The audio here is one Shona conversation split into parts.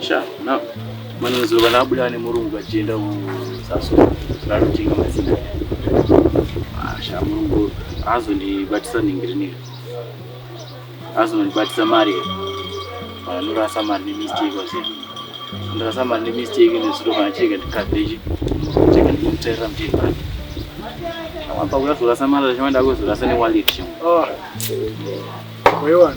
Sha, na mwana zuva nabuda ane murungu achienda kuzaso rarutinga mazina. Ah, Sha murungu azondibatisa ningiriniri. Azondibatisa mari. Anorasa mari nemistake wazira. Ndirasa mari nemistake nezuro kana chega ndikabeji. Chega ndikumutera mtiri pake. Apa kuyazorasa mari zvamanda kuzorasa newallet. Oh. Wewana.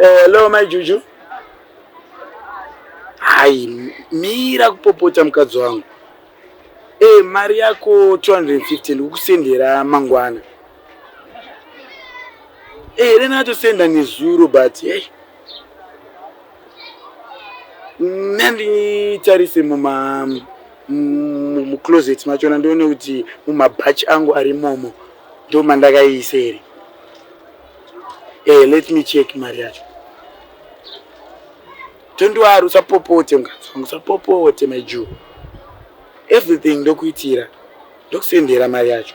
Hello, my Juju. Hai, mira kupopota mukadzi wangu. Hey, eh, mari yako 250 ndikusendera mangwana. Hey, eh, rena atosenda nezuro but hey. Eh. nanditarise muma mucloset machona ndione kuti mumabhachi angu ari momo ndo mandakaiise here eh, let me check mari yacho tondiwari usapopote mukazangu usapopote my jew everything ndokuitira ndokusendera mari yacho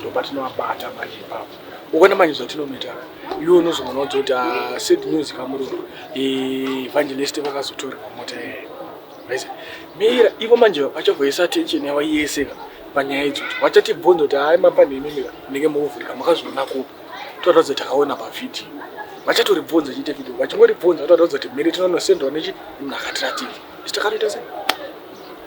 ndopatinovabata manje ipapo ukona manje zvatinonoita iwe unozoona kuti kuti ah, sad news kamurungu evangelist vakazotorwa mota yeye vese mira ivo manje vachavoisa attention yavo yese ka panyaya idzodzo vachatibvunza kuti hai mapanhemi mira munenge mukuvhurika makazviona kupi toratidza kuti takaona pavhidhiyo vachatoribvunza chiite vhidhiyo vachingoribvunza toratidza kuti miri tinonosendwa nechi munhu akatiratidza isi takanoita sei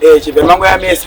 Eh, chibve mangu ya mesa.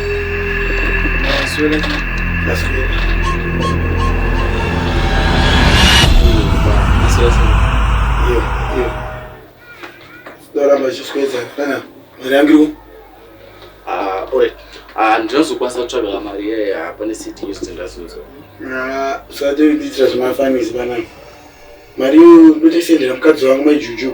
ndinozokwanisa kutsvagala mari iyeyo hapa necity yose ndindazozo usati udiitira zvemafanisi panapa mari iyo ndotoisendera mukadzi wangu maijuju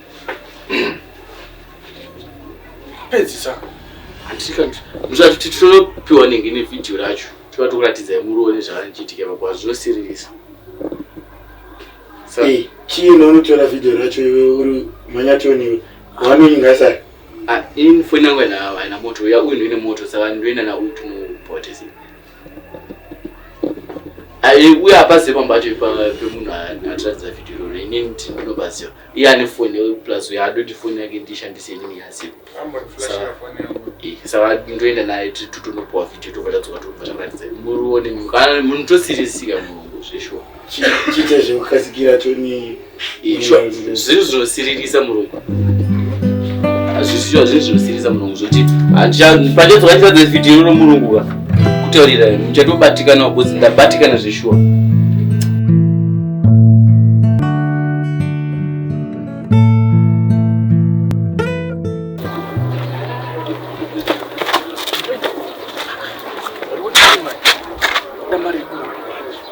pedzisa muzvati tinopiwa nenge nevhidhiyo racho tova tokuratidza muroone zvakanichiitika ipapo hazvo zvinosiririsa chii nounotora vhidhiyo racho iwe uri manyatoniwe wanoinga sa ah, ini foni yangu haina moto uya uyu ndoine moto saka ndoenda nauyu tinopotes uye apazive pamba pacho pemunhu atiratidza vhidhiyo iroro inini ndini ndinobaziva iye ane foni plus uye adoti foni yake ndishandise inini yaziva eh, saka ndoenda naye titonopuwa vhidhiyo tobva tadzoka tobva taratidza muruone munhu tosirisika munhu zveshuwa chiita zvekukatsikira toni itsva zvirizvinosiririsa murungu hazvisiwa zviri zvinosiririsa murungu zvoti pandedzokachitadza vhidhiyo romurungu ka kutaurira muchatobatikana because ndabatikana zveshuwa